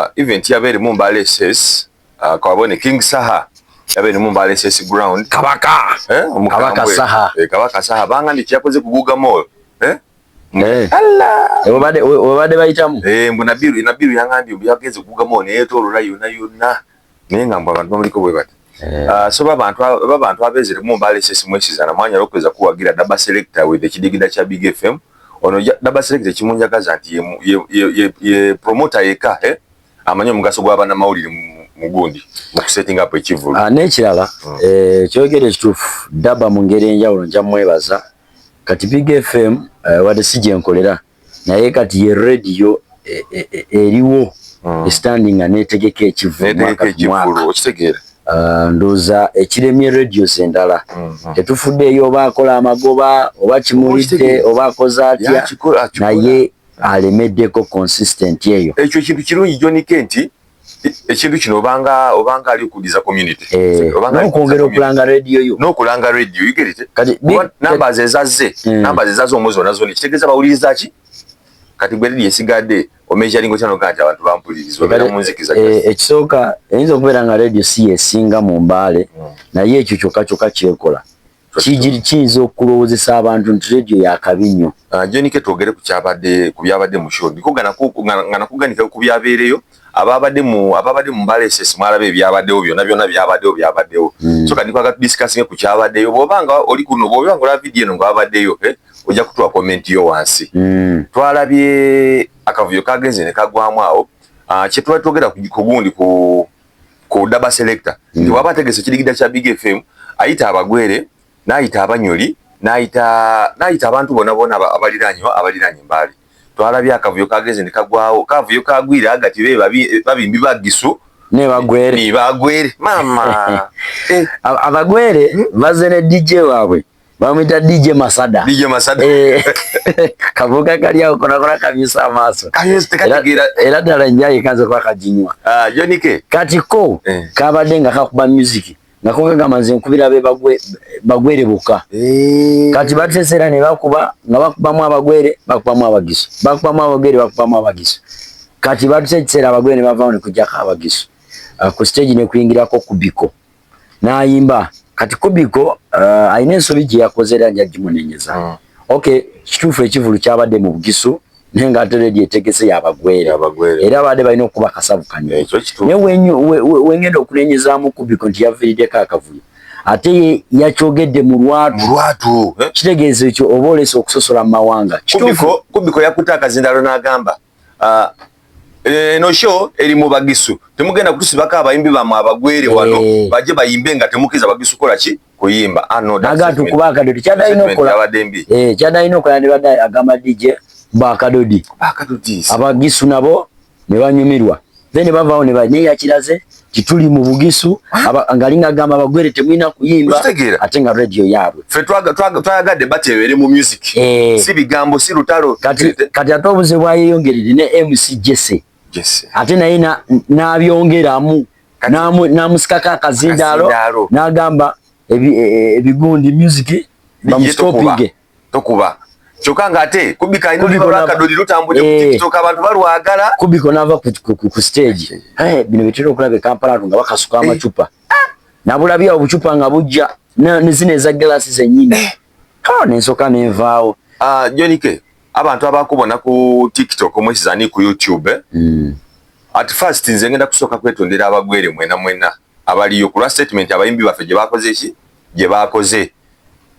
uh, event yaba erimu mbale ss uh, kabone king saha yaba erimu mbale ss ground kabaka eh, kabaka saha eh, kabaka saha banga ndi kyakoze kuguga mall eh? eh. obade bayitamu eh, mbu nabiru nabiru yangambye mbu yageze kuguga mall neyetolola yona yona naye nga mbu abantu bamuliko bwe bati eh. ah, so babantu babantu abezere mu mbale sisi mwesiza na mwanya lokweza kuwagira daba selector with ekidigida kya big fm ono daba selector kimunjagaza nti ye ye ye promoter yeka eh amanyo omugaso gwa bana mawulire mugundi mu setting up ekivulu ah nekirala hmm. eh kyogere kitufu daba mungere njawulo njamwebaza kati big fm eh, wade sije nkolera naye kati ye radio e- e- e- eriwo Mm. esitandi nga netegeka ekivulu Netegeka mwaka ku ekivvulu, mwaka okitegeera Ah, ndowooza ekiremye radios endala Mhm. tetufuddeeyo oba akola amagoba oba kimulidde Okitegeera. oba akoze atya Yakikola, akikola. naye alemeddeko consistent eyo ekyo ekintu kirungi John K nti ekintu kino obanga obanga ali okudiza community eh, obanga okwongera okulanga radio yo n'okulanga radio you get it kati numbers ezazze hmm. numbers ezazze omuzi ona zoni kitegeza bawuliriza ki kati gwe radio esigadde omeasuring okyano kati abantu bampuliriza obera mu nzikiza eh, ekisooka eyinza okubeera nga radio si esinga mu mbaale hmm. naye ekyo kyokka kyokka kyekola kiyinza okulowoozesa abantu nti rediyo yakabi nnyo ah, jonike twogere ku byabadde mu sho ndiko nga nakuganika ku byabeereyo ababadde mu ababadde mu mbala esesi mwalaba ebyabaddewo byona byona byabaddewo byabaddewo hmm. so kati kwagala tudisikasinge ku kyabaddeyo bwoba nga oli kuno bwoba nga olaba vidiyo eno nga wabaddeyo eh, ojja kutuwa komenti yo wansi hmm. twalabye akavuyo kagenze ne kagwamu awo ah, kyetuba twogera ku gundi ku ku daba selector mm. nti waba ategese kidigida kya big fm ayita abagwere nayita abanyoli nayita nayita abantu bona bona abaliranye abaliranye mbali twalabye akavuyo kageze ne kagwawo kavuyo kagwira agati be babimbi bagisu ne bagwere ne bagwere mama eh. abagwere hmm? baze ne dj wabwe Bamwita DJ Masada. DJ Masada. Eh. Kavuga kali yao kuna kuna kabisa amaso. Kabisa tekagira. Era dala njaye kanze kwa kajinywa. Ah, Jonike. Kati ko eh. kabadenga kakuba music. Nako kanga manze nkubira be bagwe bagwere buka. Eh. Kati batesera ne bakuba nga bakuba mwa bagwere bakuba mwa bagiso. Bakuba mwa bagwere bakuba mwa bagiso. Kati batesera bagwere bavawone kujaka abagiso. Uh, ah, ku stage ne kuingira ko kubiko. nayimba kati kubiko uh, alina ensobi gye yakoze era nja gimunenyeza mm. okay kituufu ekivulu kyabadde mu bugisu naye nga ate redi etegese yabagwere era abadde balina okukuba akasavu kanyoo naye wengenda okunenyezamu kubiko nti yavirideko akavuyo ate yakyogedde mu lwatu eh? kitegeeza ekyo oba olesa okusosola mu mawanga kubiko yakutte akazindalo n'agamba uh, eno eh, show eri mu bagisu temugenda kutusibako abayimbi bamwe abagwere wano eh. baje bayimbe nga temukiza bagisu kola ki kuyimba ah, agatu kuba akadodi kyadalina okukola eh, kyadalina okukola ndibadde agamba dj bakadodi abagisu nabo ne banyumirwa then bavaawo naye yakiraze tituli mu bugisu ah. ngali ngagamba abagwere temulina kuyimba ate nga radio yaabwe twayagadde batebeere mu music eh. si bigambo si lutalo kati ate obuze bwayeyongerere ne mc jese ate naye nabyongeramu namusikako akazindaalo nagamba e, e, ebigundi music bamustopinge tokuba kyoka nga ate kubika ino liba bakadoli lutambuje ku eh. TikTok abantu balwagala kubiko nava ku stage eh bino bitero kulabe Kampala nga bakasuka eh. amacupa nabulabya obucupa nga bujja ne zine za glass zenyini eh. ha nensoka nenvaawo ah jonike abantu abakubona ku TikTok omwesi zani ku YouTube eh? mm. at first nze ngenda kusoka kwetondera abagwere mwena mwena abaliyo kulwa statement abayimbi bafe je bakoze ki je bakoze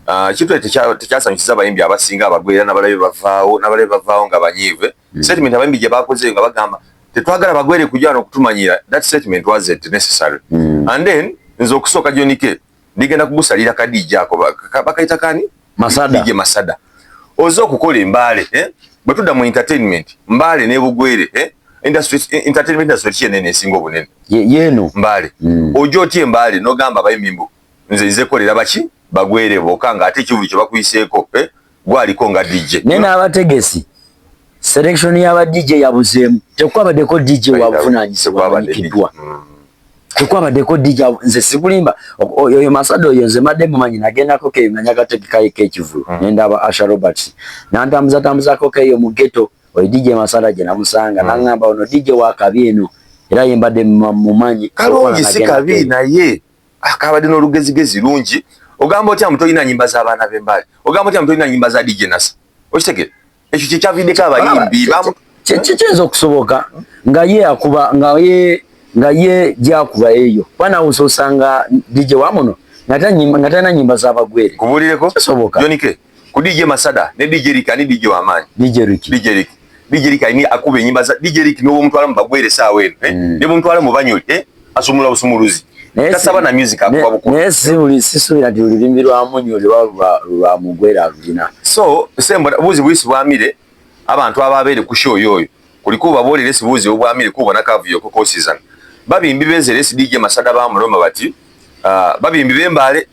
Ah, ekintu ekyo tekyasanyusiza abayimbi abasinga abagwera nabalabe bavaawo nabalabe bavaawo nga banyiive hmm. statement abayimbi gye bakoze nga bagamba tetwagala bagwere kujana okutumanyira that statement was it necessary mm. and then nze okusooka jonike ndigenda kugusalira kadija ako bakayita kani masada dije masada oze okukola embaale eh? bwe tudda mu entertainment mbaale nebugwere eh? industry entertainment industry kyenene esinga obunene yenu mbaale mm. oja otya embaale nogamba abayimbi mbu nze nze kolera baki bagwere boka nga ate kivulu kyebakuyiseeko eh? gwaliko nga DJ naye n'abategesi selection y'aba DJ yabuzeemu tekwabadeko DJ wabuvunanyizibwa amanyikiddwa mm. tekwabadeko DJ nze sikulimba oyo masada oyo nze madde mumanyi nagendako keyo nanyagategekaeko ekivulu mm. nendaba Asha Roberts nantambuzatambuzako keyo mu ghetto oyo DJ masada gye namusanga mm. nangamba ono DJ wakabi eno era yembadde mumanyi kalungi si kabi naye akabadde ah, n'olugezigezi lungi ogamba otya mutolina nyimba z'abaana b'embaali ogamba otya mutolina nyimba za dj nasa okitegere ekyo kyekyaviddeko abayimbi kiyinza okusoboka nga ye akuba nga ye nga ye gyakuba eyo kuba nawe ososanga dj wamuno nga talina nyimba z'abagwere kubulireko kisoboka jonike ku DJ Masada ne DJ Rick ani DJ wa maanyi DJ Rick DJ Rick DJ Rick ani akuba enyimba za DJ Rick n'owo mutwala mu bagwere saawa eno eh? mm. ne mutwala mu banyoli eh? asumula busumuluzi tasaba na music akuba buko naye si buli sisubira nti olulimi lwa munyoli lwa lwa mugwere alulina so sembo buzi buyisi bwamire abantu ababeere ku show yoyo kuliko babolere sibuzi obwamire kubona kavuyo ko kosizana babimbi benzere si DJ Masada ba muloma bati uh, babimbi bembale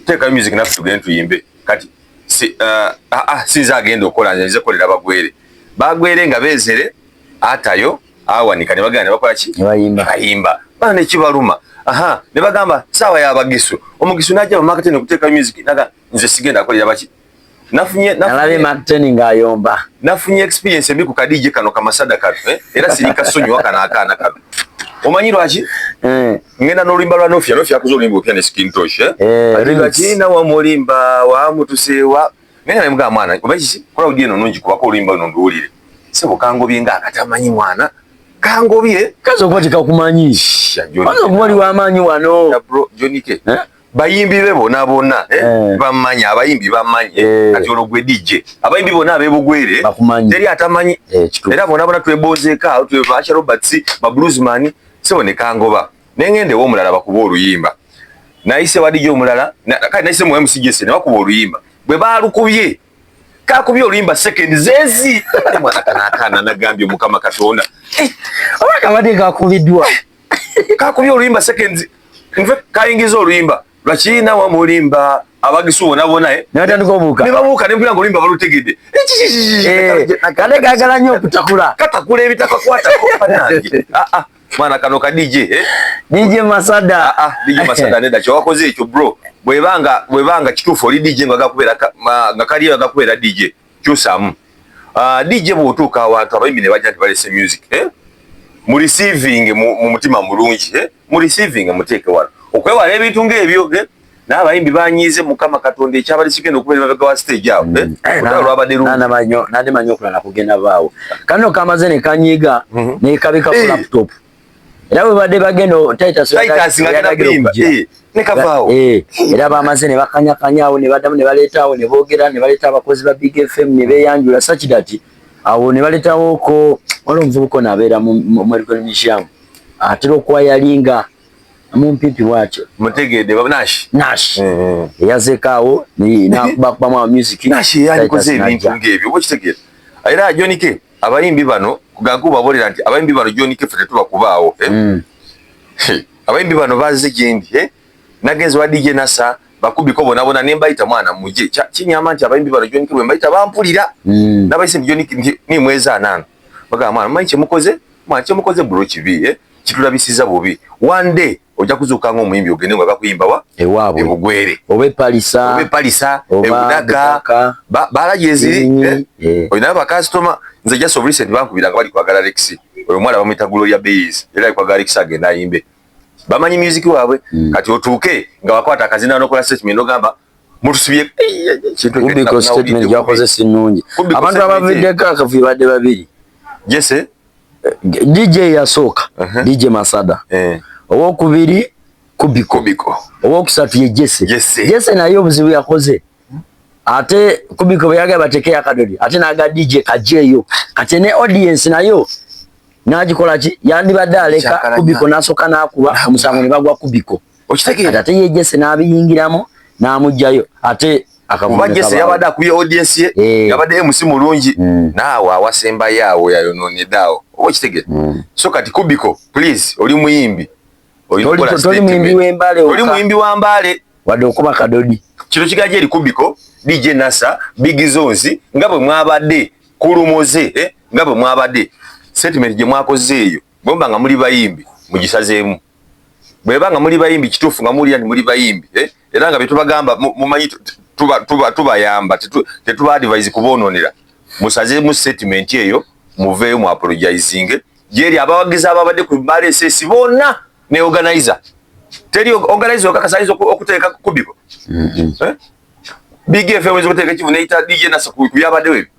teekayo music naffe tugende tuyimbe kati si, uh, ah, ah, ah, sinze agenda okola nze kolera bagwere bagwere nga bezere atayo awanika ne bagana bakola ki bayimba bayimba bana ne kibaluma aha ne bagamba sawa ya bagisu omugisu naje mu marketing okuteka music naga nze sigenda kolera baki nafunye nalabe Martin ngayomba nafunye experience embi ku kadije kano kamasada kano eh? era sirika sonyi wakana akana kano omanyi lwaki eh. ngenda nolimba lwa nofya nofya kuzo olimba opya ne skin tosh eh? eh, ati lwaki na wa mulimba wa mutusewa ngenda ne mga mwana omanyi si kola udie no nungi kuba ko olimba no nduulire sebo kango binga akatamanyi mwana kango bie kazo kwa tika kumanyi kazo kumali wa manyi wano ya bro jonike eh? bayimbi be bona bona eh, eh. bamanya abayimbi bamanya eh. kati olwo gwe DJ abayimbi bona abebugwere teri atamanyi eh, era bona bona twebozeeka tweva Asha Roberts ba bluesman sebo ne kangoba nengende wo mulala bakuba oluyimba naise wadije omulala kati naise mu MCGS ne bakuba oluyimba bwe balukubye kakubye oluyimba second zezi mwana kanakana nagambye mukama katonda eh, oba kabadde kakubiddwa kakubye oluyimba second nve kayingiza oluyimba lwakina wamulimba abagisu bona bona eh natandika obuka ne babuka ne mpira ngolimba balutegede eh, eh, kale gagala nyo kutakula katakula ebitaka kwata ko panange a ah, a ah. Mwana kano ka DJ eh? DJ Masada. Ah ah, DJ Masada neda kyo wakoze ekyo bro. Bwebanga bwebanga kitufu oli DJ nga gakubera nga kali nga gakubera DJ. Kyusamu. Ah DJ bwotuka abantu abayimine bajja balese music eh? Mu receiving mu mutima mulungi eh? Mu receiving muteke wala. Okwewala ebintu ng'ebyo eh? naye abayimbi banyiize mukama katonda ekyabadde kigenda okubeera emabega wa stage awo eh? eh, nade manyi okulala kugenda baawo kano kamaze ne kanyiiga mhm. nekabika ku eh. laptop era bwebadde bagenda nekavaawo era bamaze ne bakanyakanyaawo ne badamu ne baleetaawo ne boogera ne baleeta abakozi ba big fm ne beyanjula sakidati awo ne baleetawoko waliwo omuvubuka onabeera mu medical museum atera okuwa yalinga mumpipi bwati mutegede baba nash nash mm -hmm. yazekawo ni na kuba kuba mwa music nash yani koze ebintu ngebyo bo kitegede era John K abayimbi bano kugangu babolera nti abayimbi bano John K fete tuba kubaawo eh? mm. abayimbi bano bazi gindi eh nagenzi wa DJ Nasa bakubi ko bona bona nemba ita mwana muje cha chini amanti abayimbi bano John K bemba ita bampulira mm. nabayise John K ni mweza nana baga mwana manje mukoze manje mukoze bro kibi eh kitulabisiza bubi one day ojja kuzuuka nga omuyimbi ogende nga bakuyimba wa ewaabwe ebugwere oba epalisa oba epalisa ebudaka baalagi eziri eh? eh. oyo naye bakasitoma nze just of recent bankubira nga bali kwagala lexi oyo omwana bamuyita gloria bays era ali kwagala lexi agenda ayimbe bamanyi music waabwe hmm. kati otuuke nga wakwata akazina nokola statement ogamba mutusibye kumbiko statement gyakoze sinungi abantu abaviddeko akavuyo badde babiri jese DJ yasooka uh -huh. DJ Masada eh. owokubiri Kubiko, Kubiko. owokusatu ye Jesse Jesse, Jesse naye obuzibu yakoze ate Kubiko bwe yagaba bateke yakadodi ate naga DJ kajeyo kati ne audience nayo nagikola ki yandibadde aleka Kubiko nasoka nakuba omusango ne bagwa Kubiko okitegeera ate yejese n'abiyingiramu n'amugyayo ate kuba jese yabadde akubye audience ye eh. yabadde mc mulungi hmm. naawe awasembayo awo yayonoonedde awo oba okitegere hmm. so kati kubiko please oli muyimbi oli muyimbi wa mbaale wadde okuba kadodi kino kigaja eri kubiko dj nasa big zones nga bwe mwabadde kulumoze eh, nga bwe mwabadde sentiment gye mwakoze eyo bwemba nga muli bayimbi mugisazeemu bweba nga muli bayimbi kituufu nga muwulira nti muli bayimbi eh? era nga byetubagamba mumanyi tubayamba tetuba advise kubononera musazemu statement eyo muveeyo mu apologizinge gyeri abawagizi ababadde ku bbaala esesi bonna ne organizer teri organizer okakasaiza okuteeka kubiko mm-hmm. eh? bigfm oyinza okuteeka ekivu neyita dj nasa ku byabaddewo ebyo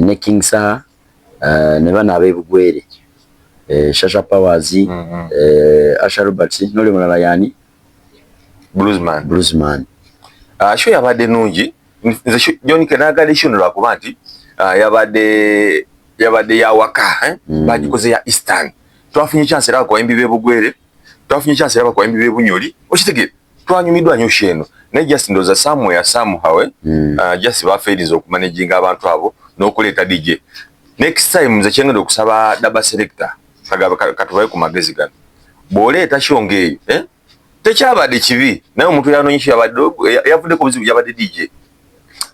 ne King Saha eh, ne bano ab'ebugwere eh, Shasha Powers mm-hmm. eh, Asha Roberts noli mulala yani Bluesman Bluesman ah, show yabadde nungi nze John Kenagade show lwakuba nti ah, yabadde yabadde yawaka mm. bagikoze ya Eastern twafunye chance era kwa embi b'ebugwere twafunye chance yaba kwa mbibe bunyoli okitegere twanyumidwa nyo sheno ne just ndoza somewhere somehow eh? mm. uh, just ba failures oku managing abantu abo no kuleta DJ next time nze kyengenda okusaba daba selector kagaba katubaye ku magezi gano bw'oleeta kyo ng'eyo eh? tekyabadde kibi naye omuntu yanonyesyo yabadde yavudde ku buzibu yabadde dj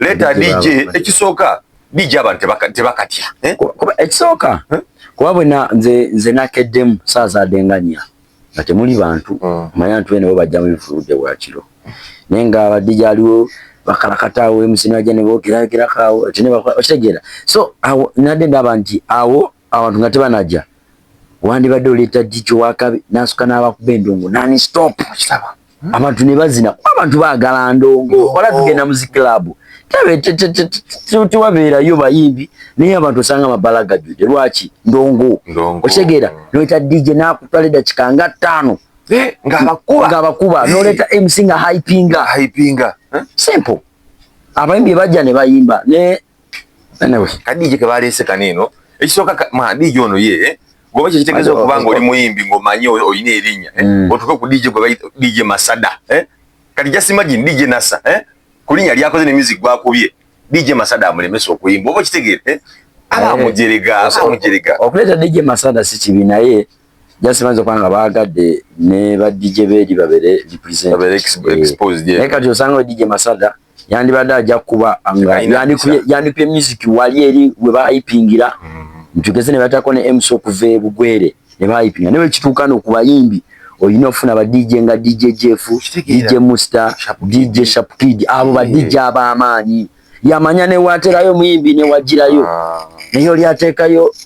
leta DJ ekisooka DJ abantu tebakatya eh? kuba ekisooka eh? kuba bwena nze nze nakeddemu saazadenganya nga temuli bantu hmm. manya nti bene bo bajja mu bifuludde bwakiro naye nga abadde gyaliwo bakalakataawo emusina gye ne bookerayokerako awo ekitegeera so awo nadde ndaba nti awo Abantu nga tebanaja wandibadde oleeta jiji wakabi nasuka n'abakuba endongo nani stop kisaba hmm? abantu ne bazina kuba abantu baagala ndongo oh. wala tugenda muzi club tewabeerayo bayimbi naye abantu osanga amabala gajjude lwaki ndongo okitegeera noleeta dj nakutwala eddakika nga ttaano eh, ngaabakuba eh. noleeta mc nga hypinga simple abayimbi bajja ne bayimba Anyway, kadije ke balese kaneno. Ekisoka ma DJ ono ye. Eh? Goba kye kitegezo kubanga oli muyimbi ngo manyo oyine erinya. Eh? Mm. Otuke ku DJ goba DJ Masada. Eh? Kati just imagine DJ Nasa. Eh? Kulinya lya koze ne music gwa kubye. DJ Masada amulemesa okuyimba. Oba kitegere. Eh? Ala eh, mujerega, ala mujerega. Okuleta DJ Masada si kibi naye. Just manzo kwanga bagade ne ba DJ bedi babere represent. Babere exposed. Eh. Naye kati osanga DJ Masada. Eh? yandibadde ajja kukuba yandikubye music wali eri we bayipingira ntugeze ne batako ne mc okuva ebugwere ne bayipinga naye wekituuka no ku bayimbi olina ofuna ba dj nga dj jeff dj musta dj shapkid abo ba dj ab'amaanyi yamanya newaterayo muyimbi newagirayo ah. naye oli ateekayo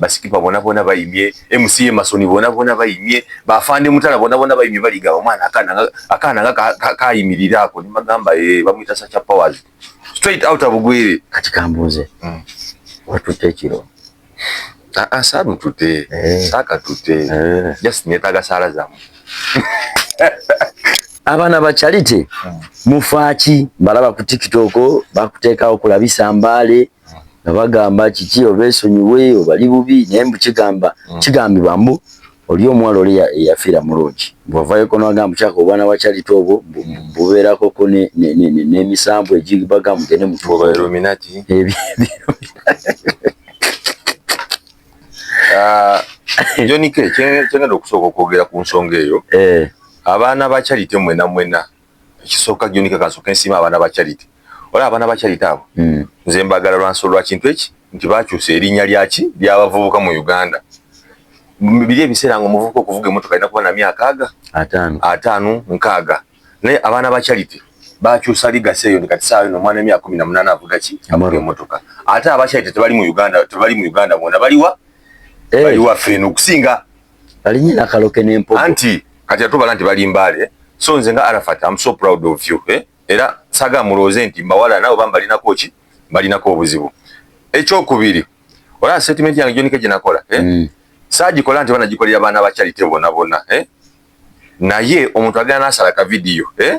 basikipa bona bona bayimye mca masoni bona bona bayimye bafande mutala bona bona bayimye baliga omwana akana akana nga kayimirira ako ni magamba e eh, bamuyita sacha powers straight out of gwere kati kambuze mm. watute kiro ah, ah, saru tute eh. saka tute eh. just netaga sala zamu abana ba charity mm. mufaki balaba ku tiktok bakutekawo kulabisa mbale nga bagamba kiki obesonyiwe obali bubi naye mbu kigamba mm. kigambibwa mbu oli omuwala oli eyafiira mulungi bwavayoko nagamba kyaka obwana bwakyalita obwo bubeerakoko n'emisambu egibaga mugende mutuobaeluminati ah, jonike kyengenda okusooka okwogera ku nsonga eyo eh. abaana bakyalite mwena mwena ekisooka joni kakansoke nsiima abaana ba charity olaba abaana ba charity abo mm. nze mbagala lwansolo lwa kintu eki nti bakyusa erinnya lyaki lyabavubuka mu uganda biri ebiseera nga omuvubuka okuvuga emotoka alina kuba na myaka aga ataano nkaaga naye abaana ba charity bakyusa ligasi eyo ndi kati saawa eno omwana emyaka kumi na munaana avuga ki avuga emotoka ate aba charity tebali mu uganda tebali mu uganda bona baliwa eh. baliwa ffe eno okusinga Alinye na kaloke ne mpogo. Anti kati atubala nti bali mbale. So nze nga Arafat I'm so proud of you. Eh? Era saga muloze nti mbawala nabo bamba lina kochi bali nako obuzibu. Echo kubiri. Ola statement yange jonika jinakola. Eh? Mm. Saji kola nti bana jikolira bana ba charity bona bona. Eh? Naye omuntu agana nasala ka video. Eh?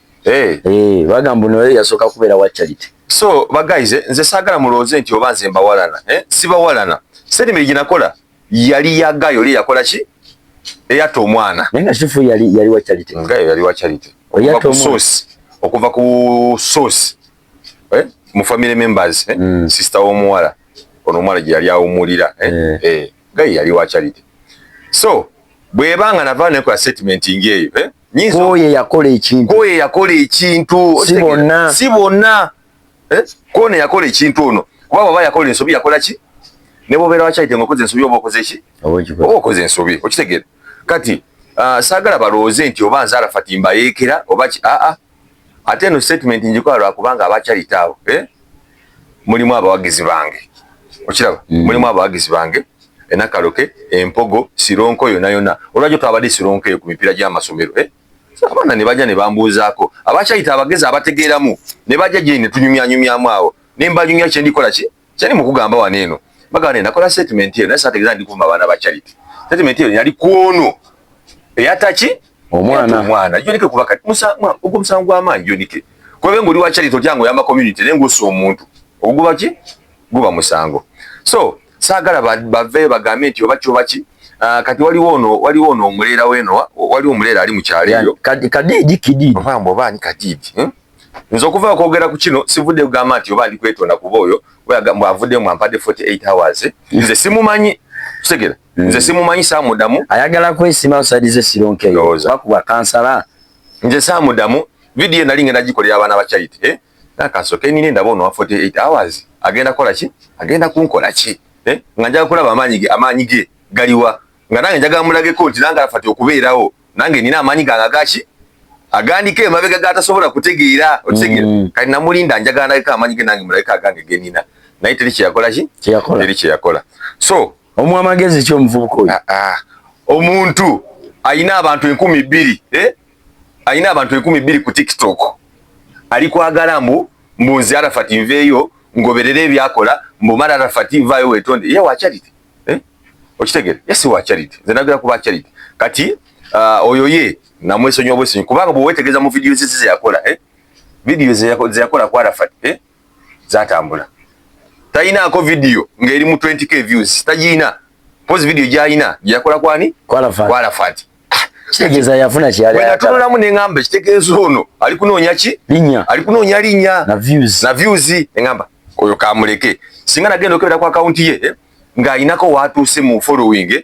Eh. Eh, bagamba no yeye yasoka kubera wa charity. So, ba guys, eh, nze sagala muloze nti oba nze mbawalana, eh? Siba walana. Sedi miri jinakola. Yali ya gayo li yakola chi? Eya to mwana. Nenga shifu yali yali wa charity. Ngayo yali wa charity. Oya to sauce. Okuva ku sauce. Eh? Mu family members, eh? Mm. Sister wo mwala. Ono mwala yali ya umulira, eh? Eh. eh. Gayo yali wa charity. So, bwebanga na vane kwa statement ingeyo, eh? kwoyo eyakola ekintu kwoyo eyakola ekintu si bonna si bonna eh? kwono eyakola ekintu ono kuba bwaba yakola ensobi yakola ki ne bwobeera wakyayite nga okoze ensobi oba okoze ki oba okoze ensobi okitegeera kati uh, saagala balowooze nti oba nze arafati mbayeekera oba ki aa ah, ah. ate eno statement njikola lwakubanga abakyayite abo eh? mulimu abawagizi bange okiraba mm. mulimu abawagizi bange enakaloke empogo sironko yona yona olwajjo twabadde sironko eyo ku mipiira gy'amasomero eh? abaana ne bajja ne bambuuzaako abakyayita abagezi abategeeramu ne bajja gye ne tunyumyanyumyamu awo ne mbanyumya kye ndikola ki kyali mu kugamba wano eno bagamba ne nakola statement eyo naye saategeeza ndi kuvuma abaana ba charity statement eyo yali kwono eyataki omwana omwana yonike kuba kati musango ogwo musango gwa maanyi yonike kuba ngoli wa charity otyango yamba community nengo so omuntu oguba ki guba musango so sagala bave bagambe nti oba kyoba ki ah, kati waliwo ono waliwo ono omulera weno waliwo omulera ali mu kyalo eyo kadi kadi dikidi omwambo oba ni kadi hmm? nzo kuva kwogera ku kino sivude kugamba nti oba ndi kwetonda kuba oyo bwa avude mu ampade 48 hours nze simumanyi tegera Hmm. Nze simumanyi samudamu. Ayagala kwesima osadize sironke yo. Bakuba kansala. Nze samudamu video nali ngenda gikolera abana ba charity eh nakaso ke nini ndabo no 48 hours agenda kola ki agenda kunkola ki eh nga njaga kulaba amaanyi ge amaanyi ge galiwa nga nange njaga mulage ko nti nanga afati okubeerawo nange nina amaanyi ganga gachi agandike emabega gatasobola kutegeera okitegera mm. kati namulinda njaga ndagika amaanyi ge nange mulagika agange genina naye teri kyeyakola ki teri kyeyakola so Omu amagezi ki omuvubuka oyo? Ah, ah. Omuntu alina abantu enkumi bbiri eh? alina abantu enkumi bbiri ku TikTok ali kwagala mbu mbu nze Arafat nveeyo ngoberere ebyakola mbu mara Arafat vaayo wetonde ye wa charity eh? okitegere ye si wa charity nze nagera kuba charity kati uh, oyo ye namwesonyiwa bwesonyi kubanga bwewetegeza mu vidiyo ze yakola eh? vidiyo ze yakola ku Arafat eh? zatambula tayinaako video ng'eri mu 20k views tagiyina pozi video gyayina gyeyakola kwani kwalafati kitegeeza yafuna kyeyali ayagala. Natunulamu ne ngamba kitegeeza ono ali kunoonya ki? Linya. Ali kunoonya linya na views. Na views ne ngamba oyo kamuleke. Singa nagenda okebera kwa account ye eh, nga ayinako watuuse mu following eh,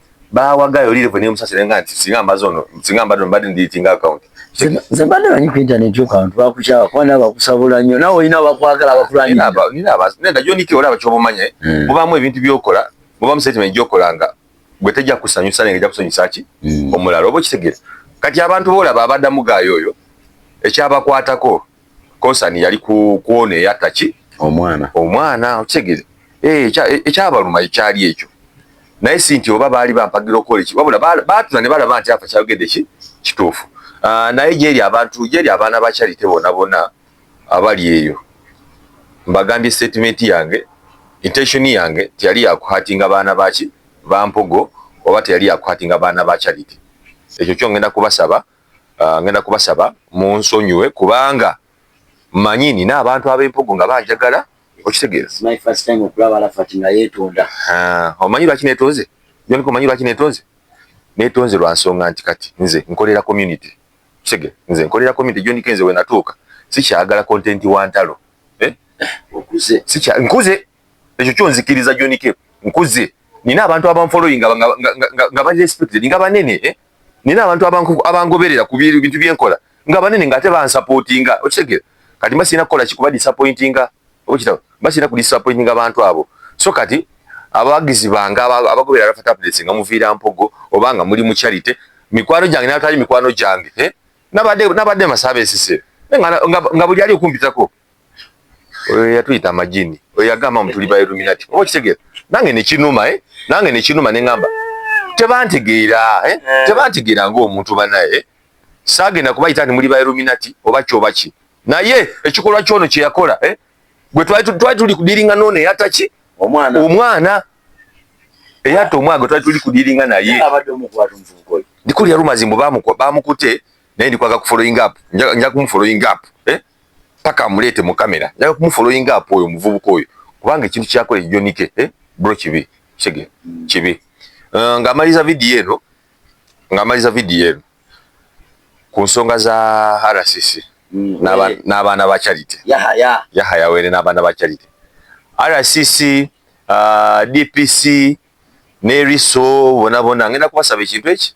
bawaga yoli level ne musasira nga nti singa mbazo ono singa mbadde mbadde ndi ting account nze mbadde manyi ku internet yo kantu bakukyaba kuba nabo bakusabula nnyo nawe olina bakwagala bakulanyira nina abazi nenda joni ke olaba kyobumanya hmm. mubamu ebintu byokola mubamu statement gyokolanga gwe tejja kusanyusa nenge jakusanyusa ki hmm. omulala oba okitegera kati abantu boolaba abadamu gaayo oyo ekyabakwatako konsani yali ku kwona eyatta ki omwana omwana okitegere eh, eh, ekyabaluma ekyali ekyo naye si nti oba baali bampagira okukola eki wabula baatula ne balaba nti afa kyayogedde ki kituufu ah, naye gyeri abantu gyeri abaana ba charite bona bona abali eyo mbagambye statement yange intention yange teyali yakuhatinga baana baki bampogo oba teyali yakuhatinga baana ba charite ekyo kyongenda kubasaba Ah, ngenda kubasaba munsonyiwe kubanga manyi nina abantu ab'empugu nga banjagala okitegeera ah, omanyi lwaki netonze joniko omanyi lwaki netonze netonze lwa nsonga nti kati nze nkolera community kitegeera nze nkolera community joniko nze wenatuuka sikyagala content wa ntalo eh? nkuze ekyo kyonzikiriza jonike nkuze nina abantu abanfollowing nga ba respected nga banene eh? nina abantu abangoberera ku bintu byenkola nga banene nga ate bansapotinga okitegera kati mba sirina kukola kikuba disappointinga okitaba mba sirina ku disappointinga abantu abo so kati abawagizi bange abagoberera rafa tablets nga muviira mpogo oba nga muli mu charity mikwano gyange nabatali mikwano gyange eh? nabadde nabadde masaba esise nga buli ali okumpitako oyo yatuyita amajini oyo yagamba mutuli ba illuminati oba okitegera nange nekinuma eh? nange nekinuma nengamba tebantegeera eh? eh. tebantegeera ngaomuntu banaye eh? sagenda kubayita nti muli ba illuminati oba kyoba ki naye ekikolwa kyono kyeyakola eh? gwe twali tuli kudiringa nono eyataki omwana, omwana. eyatta omwana gwe twali tuli kudiringa naye ndikulya rumazi mbu bamukute naye ndikwaga kufollowing up nja kumufollowing up eh? paka amuleete mu kamera njaga kumufoloyinga apo oyo omuvubuka oyo kubanga ekintu kyakola ejonike eh? bro kibi kige kibi uh, ng'amaliza vidiyo eno ng'amaliza vidiyo eno ku nsonga za rcc mm, eh. n'abaana ba charity yahaya were n'abaana ba charity rcc uh, dpc n'eriso bonabona ngenda kubasaba ekintu eki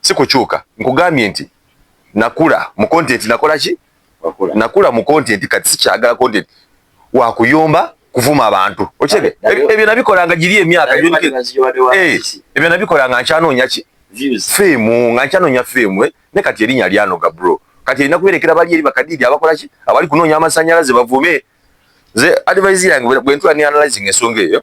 si kukyuka nkugambye nti nakula mu content nakola ki nakula mu content kati sikyagala content wakuyomba kuvuma abantu okirebe ebyo nabikola nga giri emyaka eh, ebyo nabikola nga nkyanoonya ki fiimu nga nkyanoonya fiimu eh, ne kati erinya lyanoga bro kati erina kuberekera bali eri bakadiidi abakola ki abali kunoonya amasanyalaze bavume nze advise yange bwentula ne analyzing ensonga eyo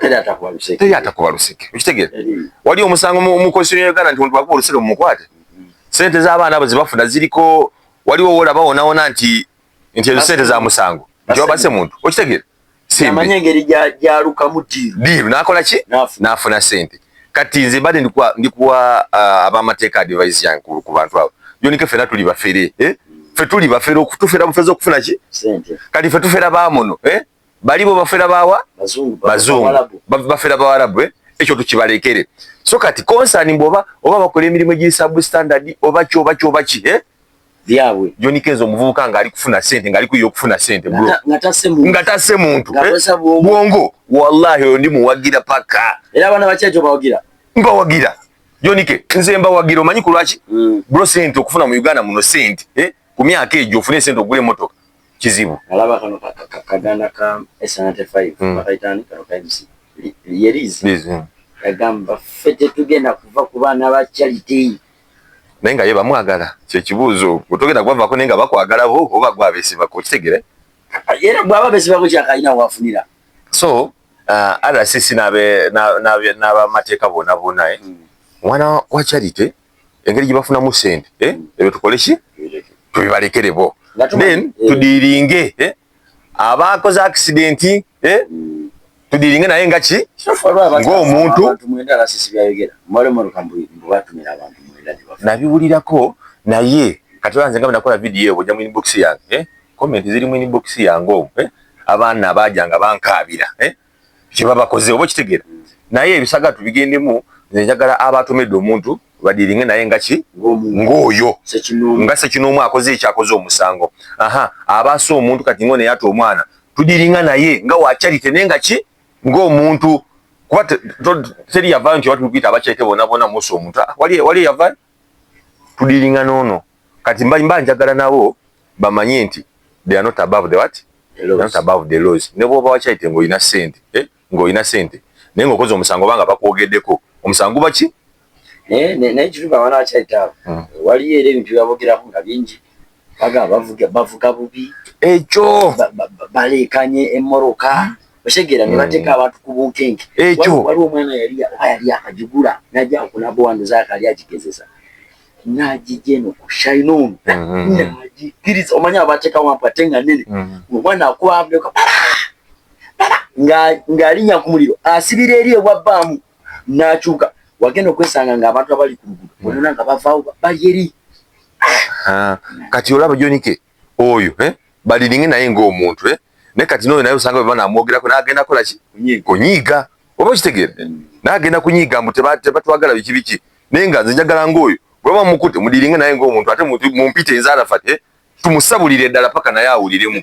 teri atakuba luseke teri atakuba luseke ukitegere wali omusango mu constitution ya Uganda nti omuntu akuba luseke mumukwate mm-hmm. sente za abaana abo zibafuna ziliko wali wowola bawona wona nti nti ezo sente za musango nti wabase muntu ukitegere amanya engeri gyalukamu diiru nakola ki nafuna sente kati nze mbadde ndikuwa uh, abamateeka advise yange ku bantu abo yonike fena tuli bafere eh? mm. fe tuli bafere okutufera bufeza okufuna ki kati fe tufera bamuno eh? bali bo bafera bawa bazungu bafera bawarabu eh? ekyo tukibalekere so kati concern mbu oba oba bakola emirimu egiri sub standard oba ki oba ki oba ki eh? byabwe joni kenzo omuvubuka nga ali kufuna sente nga ali kuyiye okufuna sente bro nga tase muntu eh? bwongo wallahi oyo ndi muwagira paka era abana bakyejo bawagira mbawagira joni ke nze mbawagira omanyi kulwaki mm. bro sente okufuna mu uganda muno sente eh? ku myaka ejo ofune sente ogule motoka kizibu alaba kano kaganda ka esanate 5 mm. bakaitani kano ka MC yerizi mm. yagamba ffe tetugenda kuva ku baana ba charity naye nga ye bamwagala kyekibuuzo otogenda kubavako naye nga bakwagala bo oba gwe abesibako kitegere era bwaba besibako kyakalina wafunira so uh, rcc n'abamateeka bona bona eh? mm. mwana wa charity engeri gye bafunamu sente eh, ebyo tukole ki tubibalekere bo then eh. tudiringe eh, abaakoze akisidenti eh, mm. tudiringe naye nga ki ng'omuntu nabiwulirako naye kati olanze nga bwenakola vidiyo ebwo ojja mu inbox yange eh, komenti ziri mu inbox yange omu eh, abaana abaajanga bankaabira eh, kyebabakoze oba okitegera naye ebisaga tubigendemu nze njagala abatomedde omuntu badiringe naye nga ki ng'oyo nga sekinoomu akoze ekyakoze omusango aha abaasa omuntu kati ngo neyata omwana tudiringa naye nga wakyalite naye nga ki ng'omuntu kuba teri yavayo nti oba tubikuyita abakyalite bonabona musa omuntu ah, wali yavayo tudiringa nono kati mba mba njagala nabo bamanye nti they are not above the what they are not above the laws ne bwoba wakyayite nga olina sente eh nga olina sente naye nga okoze omusango oba nga bakwogedeko omusango guba ki naye naye kiruga wana wakyayite abo hmm. waliyo era ebintu byabogerako nga bingi baga bavuga bavuga bubi ekyo balekanye emoroka okitegera ne bateeka hmm. abantu ku bunkenke ekyo waliwo omwana yali oba yali akagigula najja okulaba wano zaaka ali agigezesa najija eno ku shine on hmm. nagikiriza omanya abateeka wampu ate nga nene hmm. omwana akuba avuka ng'alinya ku muliro asibira eri ewa bbaamu n'akyuka wagenda okwesanga ng'abantu abali ku luguudo bonona nga bavaawo bali eri ah, kati olaba jonike oyo eh baliringe naye nga omuntu eh ne kati noyo naye usanga bana amwogera ko nagenda kola ki kunyiga oba kitegere nagenda kunyiga mbu teba teba twagala biki biki naye nga nze njagala nga oyo bwaba mukute mudiringe naye nga omuntu ate mumpite nzara fate eh? tumusabulire dala paka naye awuliremu